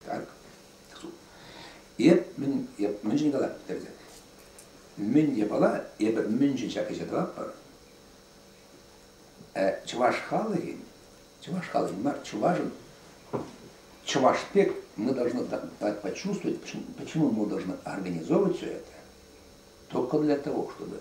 Так. Эп мӗн, эп мӗншӗн калап пӗтерсе? Мӗн япала, эпӗ мӗншӗн ҫак ӗҫе тӑватпӑр? Чӑваш халӑхӗн, чӑваш халӑхӗн мар, чувашӑн, чӑваш пек мы должны почувствовать, почему мы должны организовывать все это, только для того, чтобы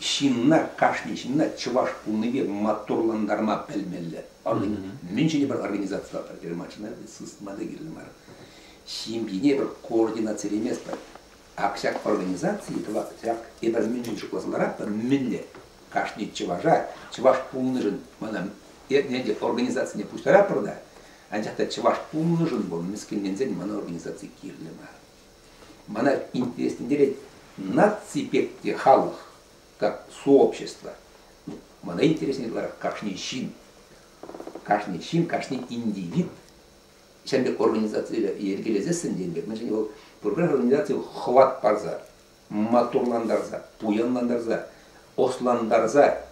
Ҫынна, кашни ҫынна чӑваш пулнипе маттурлантарма пӗлмелле. Ӑшӑн мӗншӗн пӗр организацие пӗтерме мар, чӑнах та сысна та кирлӗ мар. Ҫемьене пӗр координацилеместпӗр. Ак ҫак организаци тӑвас ҫак эпир мӗншӗн шутласа ларатпӑр, мӗнле кашни чӑваша чӑваш пулнишӗн мана эрне те организацине пуҫтаратпӑр та, анчах та чӑваш пулнишӗн вӑл мӗскӗнленсен мана организаци кирлӗ мар. Мана интереслентерет наци пек те халӑх, как сообщество. Мана интереснее ытларах кашни ҫын. Кашни ҫын, кашни индивид ҫемле организацие йӗркелесессӗн тенӗ пек, мӗншӗн вӑл пурпӗрех организаци хӑват парса, моторлантарса, пуянлантарса, ослантарса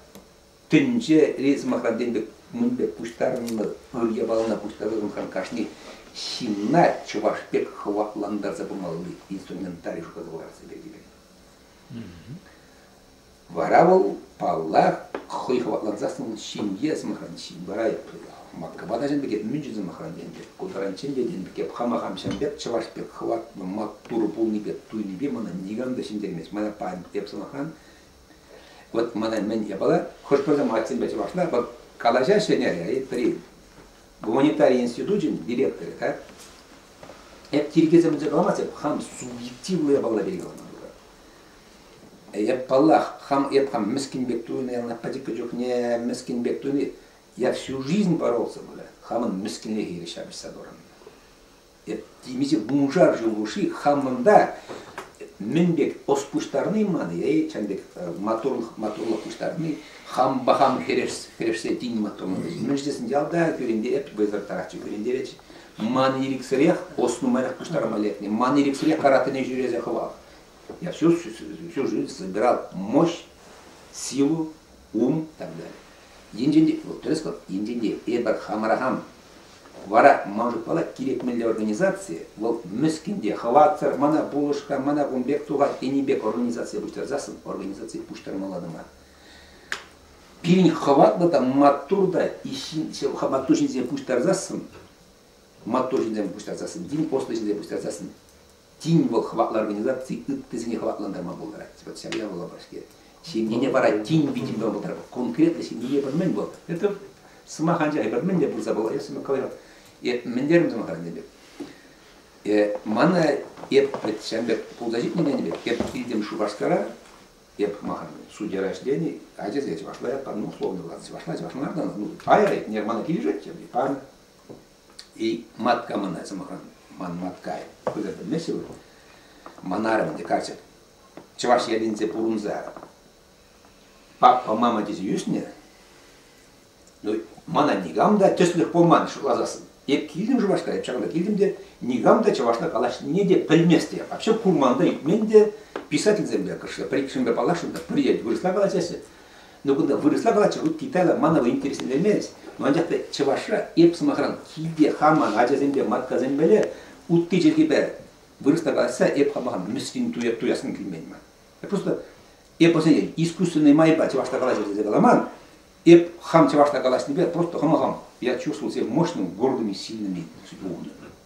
Тӗнче ризмахансем пек мӗнпе пуҫтарӑннӑ ыр япалана пуҫтарӑнсан кашни ҫынна чӑваш пек хӑватлантарса пымалли инструментарий шутласа ларса килет. Вара вӑл, паллах, хӑй хӑватлансассӑн ҫемье сӑмахран ҫын вара Москва та ҫын пекех, Мünchen сӑмахран пек, Кутаранчен пекех пек, хама хамҫан пек, чӑваш пек хӑватлӑ, маттур пулнипе, туйнипе мана никам та ҫӗнтермест. Мана эп сӑмахран Вот мана мӗн япала, хӑш-пӗр мальцинпе чӑвашла вот калаҫаҫҫӗ не, при гуманитарий институчӗн директорӗ, да, эп тиркесемӗнче каламас, эп хам субъективлӑ япала пирки калама Эп паллах, хам эп хам мӗскӗн пек туйнӑ, ялна пӗчӗккӗ чухне мӗскӗн пек туйни. Я всю жизнь боролся, бля, хамӑн мӗскӗнлӗхе ҫапӑҫса торӑннӑ. темиҫе вуншар ҫул хушши хамӑнта мӗн пек ӑс пуҫтарни ман е чӑн пек маттурлӑх маттурлӑх пуҫтарни хампа хам хӗрешсе тин маттурлӑх мӗн тесен ялта кӳрентерет вӑйсӑрттарахчӗ кӳрентерет ман ирӗксӗрех ӑс нумайрах пуҫтарма лекнӗ ман ирӗксӗрех каратэне ҫӳресе хӑвах я всю всю жизнь собирал мощь силу ум и так далее Енчен те вӑл тӗрӗс вӑл, енчен те эпир хамӑра хам. Вара ман шутпала кирек мӗнле организацие вӑл мӗскӗн те хӑватсӑр мана пулӑшка, мана кун пек тухать тени пек организацие пуҫтарсассӑн организацие пуҫтармалла та пирӗн хӑватлӑ та маттур та маттур ҫынсене пуҫтарсассӑн маттур ҫынсене пуҫтарсассӑн тин ӑслӑ ҫынсене пуҫтарсассӑн тин вӑл хӑватлӑ организаци ыттисене хӑватлантарма пултарать. Вот ҫавна вулапа-ҫке. Ҫемьене вара тин витӗм тӑма пултарать. Конкретлӑ ҫемье пӗр-мӗн вӑл. Это сӑмах анчах пӗр мӗн те пулса пулать, если мы говорим. Мӗн терим сӑмахран пек? Мана эп ҫам пек пулса ҫитнӗ пек, эп килтем Шупашкара, эп махам судья рождений, ачасем чӑвашла ятпа, ну, условно ладно, чӑвашла, чӑвашла, ну, пайра, не, мана килӗшетчӗ, пан, И матка мына, сӑмахран, ман маткай, пӗлӗр пӗлмеҫҫӗ вы? Манарым те каччӑ чӑваш ялӗнче пурӑнса папа, мама тесе ӳснӗ. Ну, мана никам та тӗслӗх пулман шутласассӑн. Эп килтӗм Шупашкара, эп ҫакӑнта килтӗм те никам та чӑвашла калаҫнине те пӗлмест те, вообще курман та, илтмен те, писательсемпе, кӑшла, пӗр-иккӗшӗнпе паллашрӑм та, пӗр ел вырӑсла калаҫаҫҫӗ. Но кунта вырӑсла калатчӗ, русский, италья мана та интересленмест, но анчах та чӑвашра эп сӑмахран килте хаман ачасемпе маткасемпеле утти чӗлхи пӗр вырӑсла калаҫса эп хамахам мӗскӗн туяссым килмен ман. Просто эп осенне искусственный майпа чӑвашла калаҫу тесе каламан, эп хам чӑвашла калаҫнипе просто хама хам я чувствовал себя мощным, гордым и сильным и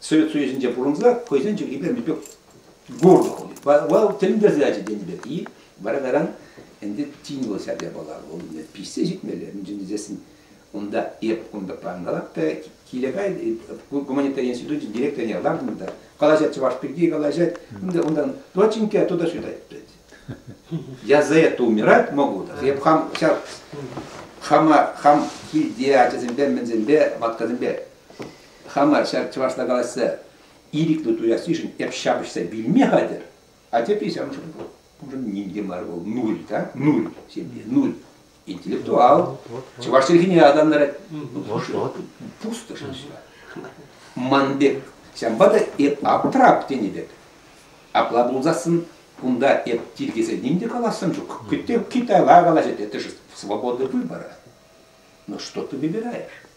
Совет Союзӗнче пурӑнса хӑйсен чӗлхипе пек гордо вал тӗлӗнтерсе ячӗ тенӗ пек и вара таран ӗнтӗ тин вӑл ҫак япала вӑл пиҫсе ҫитмелле мӗншӗн тесен унта эп кунта пангалап та киле кай гуманитар институчӗ директорне лартнӑ та калаҫать чӑваш пирки калаҫать ӗнтӗ унтан доченька туда сюда я за это умирать могу эп хам ҫав хама хам килте ачасемпе мӗнсемпе маткасемпе Хама ҫав чӑвашла калаҫса ирӗклӗ туяссишӗн эп ҫапӑҫса вилме хатӗр. А тепри ҫавӑншӑн вӑл, уншӑн ним те мар, вӑл нуль та, нуль, ҫемье, нуль. Интеллектуал, чӑваш чӗлхине атанарать. Пусто шыҫҫа. Ман пек, ҫавӑнпа та эп аптрап тенӗ пек. Апла пулсассӑн кунта эп тиркесе ним те калассӑм ҫук. Китайла калаҫать, это же свобода выбора. Но что ты выбираешь?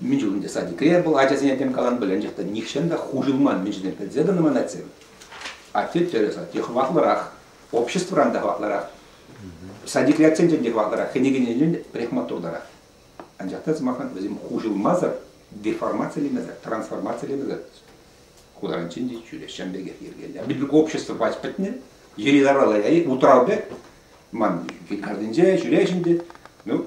Мичун ӗнтӗ садикре был, ачасене тем калан пӗленчӗх та нихҫан та хуҫӑлман мичӳне пӗлсе тӑнӑ манатсем. Атте тӗрӗс, атте хӑватлӑрах, обществӑран та хӑватлӑрах. Садикриатсен те хӑватлӑрах, кӗнекененчен парикматуртарах. Анчах та, сӑмахран, вӗсем хуҫӑлмасӑр деформацилемесӗр, трансформацилемесӗр хутаранчен те ҫӳреҫҫӗ пекех йӗркеллӗ. Бүт общество пач пӗтнӗ, йӗри-тавралла утырал пек, ман картинче ҫӳреҫ ӗнтӗ. Ну,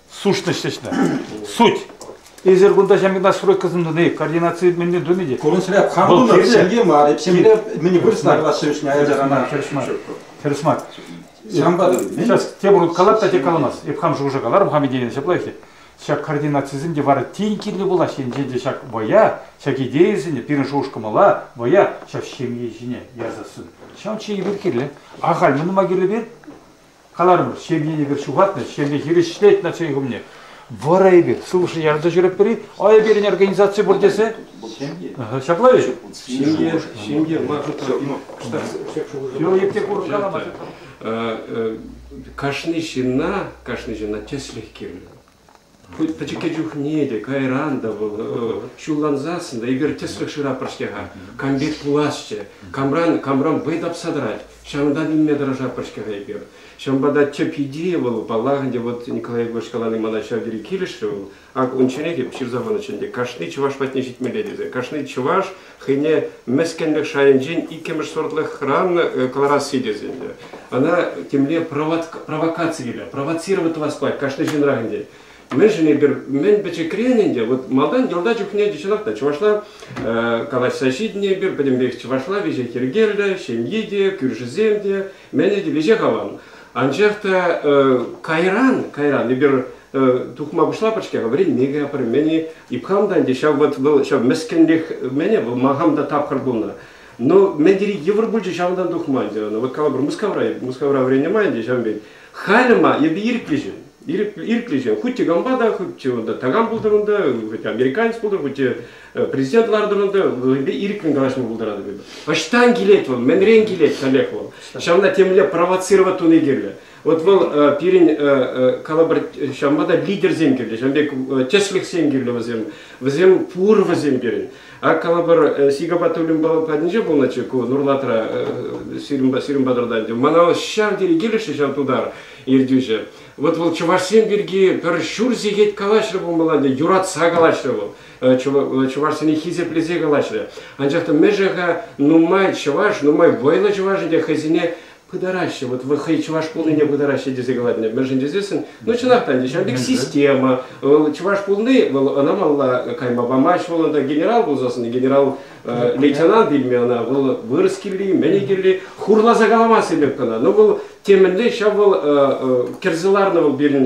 Сушность ӗҫне. Суть. Эсир кунта ҫамрӑк настройкӑсем тунӑ, координаци мӗнле тунӑ те. Курӑнсӑрах хам тунӑ, ҫемье мар, эп ҫемье мӗн пыр сӑнарла ҫывӗҫне аяжарана. Хирӗҫ мар. Хирӗҫ мар. Ҫавӑнпа Сейчас тепӗр хут калап та тек каламас. Эп хам шухӑша каларӑм, хам идейине ҫаплах-и. Ҫак координацисем те вара тин кирлӗ пулаҫ. Енчен те ҫак вӑя, ҫак идейӑсене пирӗн шухӑш-кӑмӑла, вӑя ҫак ҫемье ҫине ярсассӑн. Ҫавӑн чухне эпир кирлӗ. Ахаль мӗн тума кирлӗ пир? Каларӑмӑр, ҫемьене эпир ҫухатнӑ, ҫемье хирӗҫлет начальник умне. Вара эпир сывлӑшне ярӑнса ҫӳретпӗр-и? А пирӗн организаци пур тесе? Ҫапла-и? Ҫемье, ҫемье мар шутра Yo йӗпте курӑк калама. Кашни ҫынна, кашни ҫынна тӗслӗх кирлӗ. Пӗчӗкке чухне те кайран та вӑл ҫуллансассӑн та эпир тӗслӗх шыра пӗр-ҫке-ха, кампек пуласчӗ, камран камран вӑй тапса тӑрать, ҫавӑнтан илме тӑрӑшатпӑр-ҫке-ха эпир. Ҫавӑнпа та тӗп идея вӑл, паллах ӗнтӗ, вот Николай Егорович калани мана ҫав тери килӗшрӗ, вӑл, ак ун чӗре те ҫырса панӑччӗ ӗнтӗ, кашни чӑваш патне ҫитмелле тесе, кашни чӑваш хӑйне мӗскӗнлӗх шайӗнчен иккӗмӗш сортлӑх хӑранӑ кӑларасси тесен те, ӑна темле провокаци килӗ, провоцировать тӑвас пулать кашни ҫынрах ӗнтӗ. Мӗншӗн эпир мӗн пӗчӗкрен ӗнтӗ вот малтан йорта чухне чӑнах та чӑвашла калаҫса ҫитнӗ эпир, пӗтӗмпех чӑвашла веҫех йӗркеллӗ, ҫемйи те, кӳршӗсем те, Мӗне те веҫех аван. Анчах та кайран, кайран эпир тухма пуҫлапӑр-ҫке, вӗренме кӗпӗр, мӗн и хам та ӗнтӗ ҫав вот вӑл ҫав мӗскӗнлех мӗне вӑл ма хам та тапхӑр пулнӑ. Но мӗн тери йывӑр пулчӗ ҫавӑнтан тухма ӗнтӗ ӑна. Вот калӑпӑр Мускавра, Мускавра вӗреннӗ май ӗнтӗ ҫав пек. Халӗ ма эпӗ ирӗклӗ ҫын. Ирӗклӗ ҫын. Хуть те кампа та, хуть те унта такам пултӑр унта, хоть американец пултӑр, хоть те Президент лартӑр та вӗсемпе ирӗккӗн калаҫма пултаратӑп эпӗ. Ӑҫтан килет вӑл, мӗнрен килет каллех вӑл. Ҫавна темле провоцировать туни кирлӗ. Вот вӑл пирӗн калӑпӑр ҫавӑнпа та лидерсем кирлӗ, ҫавӑн пек тӗслӗхсем кирлӗ вӗсем. Вӗсем пур вӗсем пирӗн. Ак калӑпӑр Сигапа Тулюмпа патӗнче пулнӑччӗ ку Нурлатра, сирӗн патӑрта ӗнтӗ. Мана ҫав тери килӗшрӗ ҫав тутар ертӳҫӗ. Вот вӑл чӑвашсем пирки пӗр ҫур сехет калаҫрӗ пулмалла ӗнтӗ, юратса калаҫрӗ вӑл. чӑвашсене хисеплесе калаҫрӗ. Анчах та мӗшӗ-ха нумай чӑваш, нумай вӑйлӑ чӑваш ӗнтӗ хӑйсене пытараҫҫӗ, вот вы хӑй чӑваш пулнине пытараҫҫӗ тесе калатӑн. Мӗншӗн тесессӗн, ну чӑнах та ӗнтӗ, ҫавӑн пек система. Вӑл чӑваш пулни, вӑл ӑна малла кайма памасть, вӑл унта генерал пулса сӑннӑ, генерал лейтенант илме ӑна, вӑл вырӑс кирли, мӗн кирли, хурласа каламас илем кӑна. Но вӑл темӗнле ҫав вӑл кӗрсе ларнӑ вӑл пирӗн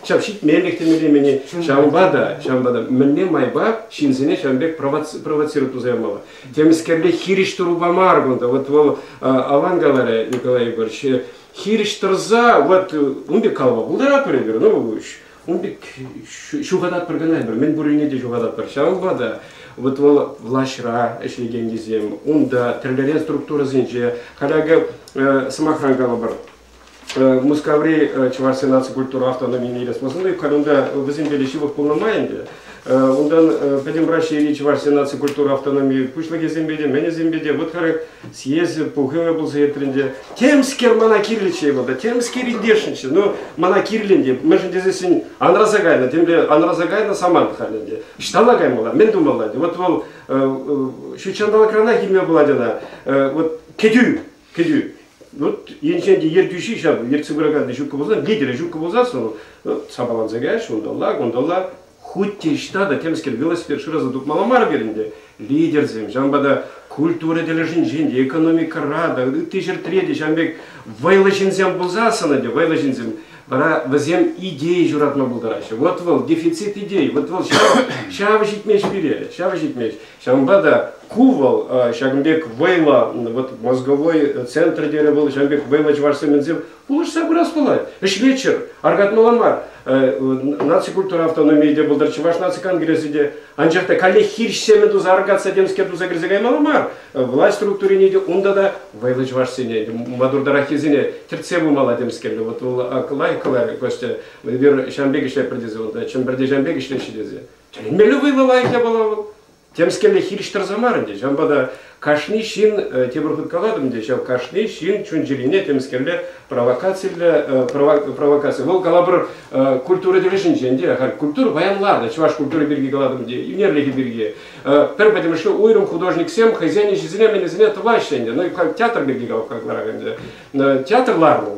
ҫав ҫитменлӗх темелемене, ҫавӑнпа та, ҫавӑнпа та мӗнле майпа ҫынсене ҫавӑн пек провоцирует туса ямалла. Темскерле хирӗҫ тӑрупа мар кунта, вот вӑл аван каларӗ Николай Егорович, хирӗҫ тӑрса, вот ун пек калама пултаратпӑр эпир, ну Ун пек ҫухататпӑр кӑна эпир, мӗн пуррине те ҫухататпӑр. Ҫавӑнпа та вот вӑл влаҫра ӗҫлекеннисем, унта тӗрлӗрен структурӑсенче, каллеге сӑмахран калӑпӑр, Мускаври Чӑваш наци культура автономине илес пулсан та, халь унта вӗсемпе те ҫывӑх пулнӑ май ӗнтӗ, Унтан Пӗтӗм Раҫҫейри Чӑвашсен наци культура автономийӗ пуҫлӑхӗсемпе те, мӗнӗсемпе те вӑт-хӑрӑк съезд пухӑвӗ пулса иртрӗ ӗнтӗ. Темскер мана кирлӗччӗ мана, темскер индешниччӗ, ну, мана кирлӗ ӗнтӗ, мӗншӗн тесессӗн анраса кайнӑ, темле анраса кайнӑ самант халь ӗнтӗ. Ҫӑҫталла каймалла, мӗн тумалла ӗнтӗ, вот вӑл ҫут ҫанталӑкранах илме пулать ӑна, вот кӗтӳ, Кӗтӳ. Вот енчен те ертӳҫи ҫав ертсе пыракан ҫукка пулсан, лидерӗ ҫукка пулсан, ну, сапаланса каяш, унталла, кунталла. Хуть те ҫта та темскер велосипед шыраса тупмалла мар пирӗн те. Лидерсем, ҫавӑнпа та культура тӗлӗшӗнчен те, экономикӑра та, ытти ҫӗртре те ҫавӑн пек вӑйлӑ ҫынсем пулсассӑн те, вӑйлӑ ҫынсем, вара вӗсем идея ҫуратма пултараҫҫӗ. Вот вӑл дефицит идеи, вот вӑл ҫав, ҫавӑ ҫитмест пире, ҫавӑ ҫитмест. Ҫавӑнпа та ку вӑл ҫакӑн пек вӑйлӑ вот мозговой центр тенӗ вӑл ҫавӑн пек вӑйлӑ чӑвашсем мӗнсем пулӑшса пырас пулать. Ӗҫ вечер аркатмалла мар. Наци культура автономийӗ те пултӑр, Чӑваш наци конгресӗ те. Анчах та каллех хирӗҫ семӗн туса аркатса темскер туса кӗрсе каймалла мар. Власть структурине те унта та вӑйлӑ чӑвашсене, мадуртараххисене тӗртсе пымалла темскер. Вот вӑл лайӑхлӑ Костя эпир ҫавӑн пек ӗҫлетпӗр тесе, унта Чӗмпӗрте ҫавӑн пек ӗҫлеҫҫӗ тесе. Тӗлӗнмелле вӑйлӑ лайӑх япала вӑл. Темскерле хирӗҫ тӑрса мар ӗнтӗ. Ҫавӑнпа та кашни ҫын, э, тепӗр хут калатӑп ӗнтӗ, ҫав кашни ҫын чун-чӗрине темскерле провокацилле, э, провокаци. Вӑл калапӑр э, культура тӗлӗшӗнчен те, халь культура паян ларнӑ, чӑваш культури пирки калатӑп ӗнтӗ, ӳнерлӗхӗ пирки. Пӗр пӗтӗмӗшле уйрӑм художниксем хӑйсен ӗҫӗсене-мӗнӗсене тӑваҫҫӗ ӗнтӗ. Ну, халь театр пирки калап каларак ӗнтӗ. Театр ларнӑ ун